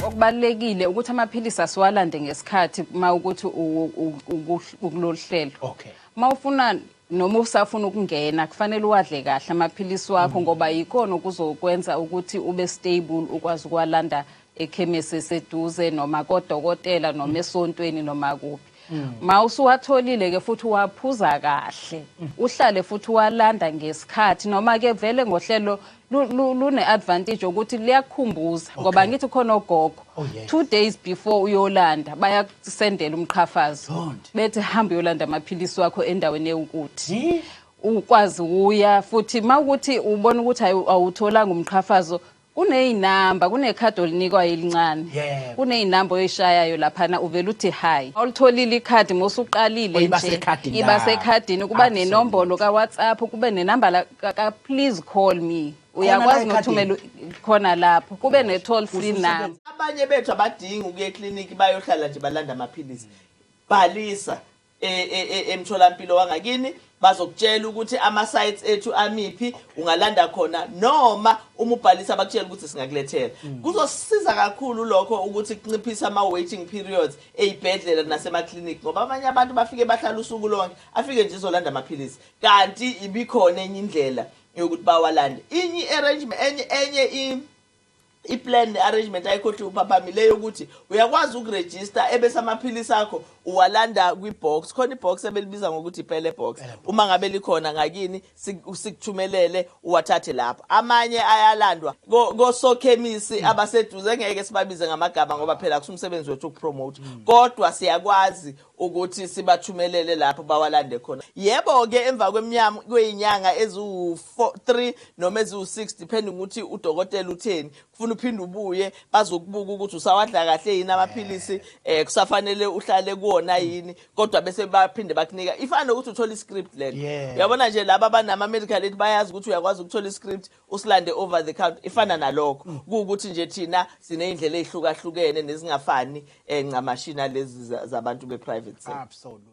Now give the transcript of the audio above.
okubalekile ukuthi amaphilisi asiwalande ngesikhathi uma ukuthi ukulolu hlelo okay uma ufuna noma usafuna ukungena kufanele uwadle kahle amaphilisi wakho mm. ngoba yikona okuzokwenza ukuthi ube stable ukwazi ukwalanda ekhemesi eseduze noma kodokotela noma mm. esontweni noma kuphi mm. ma usuwatholile ke futhi waphuza kahle mm. uhlale futhi walanda ngesikhathi noma ke vele ngohlelo lune advantage ukuthi liyakukhumbuza ngoba ngithi khona ogogo oh, two days before uyolanda bayakusendela umqhafazo bethi hamba uyolanda amaphilisi wakho endaweni ewukuthi ukwazi uya futhi mawukuthi ubona ukuthi awutholanga umqhafazo Kunezinamba, kunekhadi olinikwayo elincane. Yebo. Kunezinamba oyishayayo laphana uvela uthi hi. Olitholile ikhadi mosuqalile Iba nje. sekhadini Iba lakho. sekhadini kuba Absolutely. nenombolo ka WhatsApp, kube nenamba la ka, ka please call me. la Uyakwazi ekhadini? nokuthumela u- khona lapho. Kube ne toll free number. abanye bethu abadingi ukuya ekliniki bayohlala nje balanda amaphilisi bhalisa e, e, e, emtholampilo wangakini bazokutshela ukuthi ama-sites ethu amiphi ungalanda khona noma uma ubhalisa bakutshela ukuthi singakulethela mm. kuzosiza kakhulu lokho ukuthi kunciphise ama-waiting periods ey'bhedlela nasemaklinikhi ngoba abanye abantu bafike bahlala usuku lonke afike nje izolanda amaphilisi kanti ibikhona enye indlela yokuthi bawalande inye i-arrangement enye enye i-plan ne-arrangement ayikhohli uphaphamile yokuthi uyakwazi ukurejista ebese amaphilisi akho uwalanda kwi-box khona i-box ebelibiza ngokuthi ipele box uma ngabe likhona ngakini sikuthumelele uwathathe lapho amanye ayalandwa kosokhemisi mm. abaseduze ngeke sibabize ngamagama ngoba phela kusumsebenzi wethu ukupromote mm. kodwa siyakwazi ukuthi sibathumelele lapho bawalande khona yebo-ke emva kwemnyama kweyinyanga eziwu-3 noma eziwu-6 depending ukuthi udokotela utheni kufuna uphinde ubuye bazokubuka ukuthi usawadla kahle yini amaphilisi um eh, kusafanele uhlale kuwona yini kodwa bese baphinde bakunika ifana nokuthi uthole i-script lelo uyabona nje laba abanama-medical aid bayazi ukuthi uyakwazi ukuthola i-script usilande over the count ifana mm. nalokho mm. kuwukuthi nje thina sineyindlela ezihlukahlukene nezingafani eh, ncamashina lezi zabantu be private sector absolutely